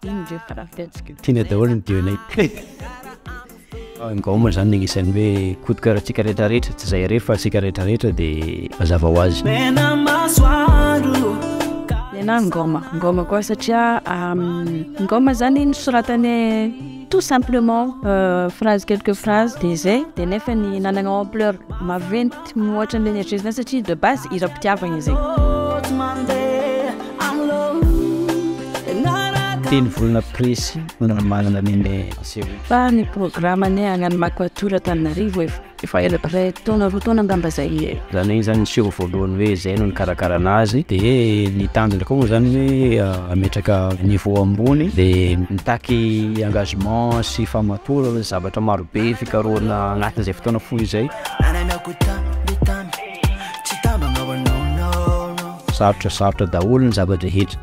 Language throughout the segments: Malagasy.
tiana daholo ny dionay gaoma zany agnisan'ny hoe kodoka raha tsika rehetra rehetra tsy zay rehetra fa tsika rehetra rehetra de mazava ho azy na ngoma ngoma koa satria ngoma zany nosoratany tout simplement euh, phrase quelques phrases de zay de nefa ny nanagna ampleur maventy tsy mihoatra an'ilay nieritreretina satria de base hiram-pitiavana izy teny volana précis manana nene fa ny programme ne agnano makoatora tanarivo efa efa ela pray taona roa taona angamba zay e zany hoe zany niseho voalohany hoe zay no nikarakarana azy de ny tanjona koa moa zany hoe ah, ametraka niveau ambony de mitaky engagement sy famatorana zavatra marobe fikarohana anatin'izay fotoana fohy izay Ananako tamby tamby Tsy tambagna wa no no no Sarotra sarotra daholo ny zava-drehetra.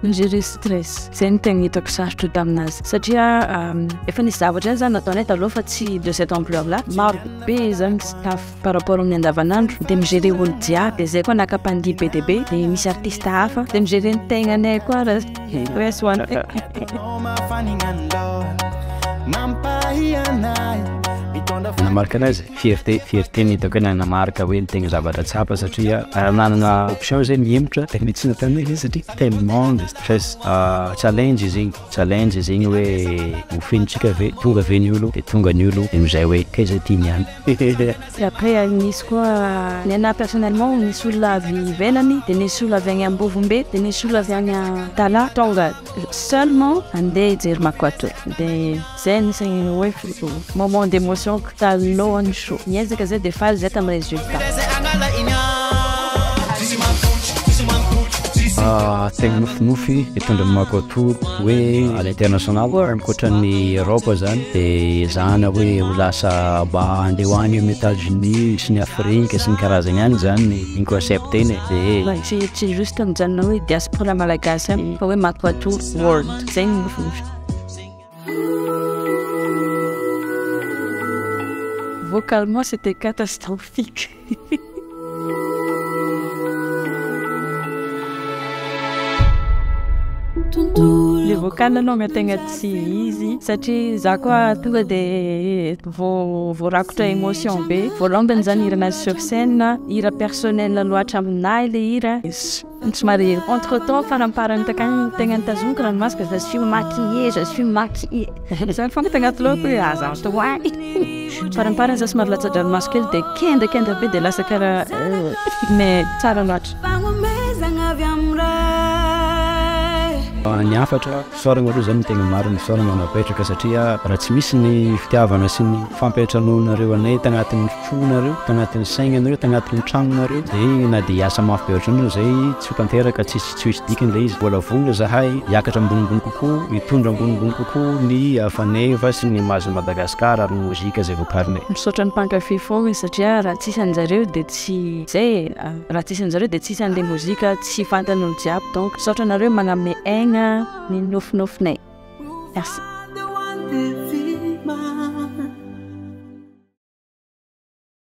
Mijery stress, zay no tegna hitako sarotra taminazy satria efa nisy zavatra zany nataonay taloha fa tsy de cette ampleur là, maro be zany staff par rapport amin'ny andavanandro de mi-gérer olo jiaby, zay koa naka mpandihy be dia be de misy artiste hafa de mi-gérer ny tegnanay koa. Nanamarika anay zay, fierté, fierté ny hitako hoe nanamarika hoe ny tegna zavatra tsapa satria raha nanana option zay ny hihemotra de mety tsy nataonay izy satria tellement de stress, challenge izy igny, challenge izy igny hoe ho fenontsika ve, tonga ve ny olo, de tonga ny olo de am'zay hoe kay zay ty niany. Et après nisy koa ny anah personnellement nisy olona avy ivelany de nisy olona avy any ambovombe de nisy olona avy any antalaha tonga seulement andeha hijery makoto de zay anisany hoe moment d'emotion ko talohan'ny show niezaka zay de faly zay tamin'ny resultat. Ah, tegna nofinofy eto Andriamatoa hoe à l'international ankoatra ny Europe zany de ezahana hoe ho lasa mba handeha ho any amin'ny Etats Unis sy ny Afrique sy ny karazany any zany ny ny concept-ny e, de Fa tsy tsy juste mijanona hoe diaspora malagasy ihany fa hoe matoatoa world, zay no nofinofiko. Vocalement c'était catastrophique. Le vocal anao mety tegna tsy izy satria za koa tonga de vo voarakotra émotion be voalombany zany hira nazy sur scène hira personnel loatra aminahy le hira. Somary entre temps faramparany takany tegna nitazoniko ranomasoko je suis maquillée je suis maquillée zany fôna tagnaty lohako hoe aza atao any faramparany za somary latsa-dranomaso kely de kendakenda be de lasa karaha mais tsara loatra. Ny hafatra. Fisaorana aloha izany no tena marina, fisaorana mampahetraka satria raha tsy misy ny fitiavana sy ny fampiantranoanareo anay tagnatin'ny fonareo, tagnatin'ny saignanareo, tagnatin'ny tragnonareo dia na dia hiasa mafy be ohatran'io izay tsy ho tanteraka, tsy tsy ho hisy dikany ilay izy. Mbola vonona izahay hiakatra ambonimbony kokoa, hitondra ambonimbony kokoa ny faneva sy ny maha-zo Madagascar ary ny mozika izay vokarinay. Misaotra ny mpankafy foagna satria raha tsisy anjareo dia tsy izay e! Raha tsisy anjareo dia tsisy anle mozika tsy fantany olo jiaby donc misaotra anareo magname aigna ny nofinofinay. Merci.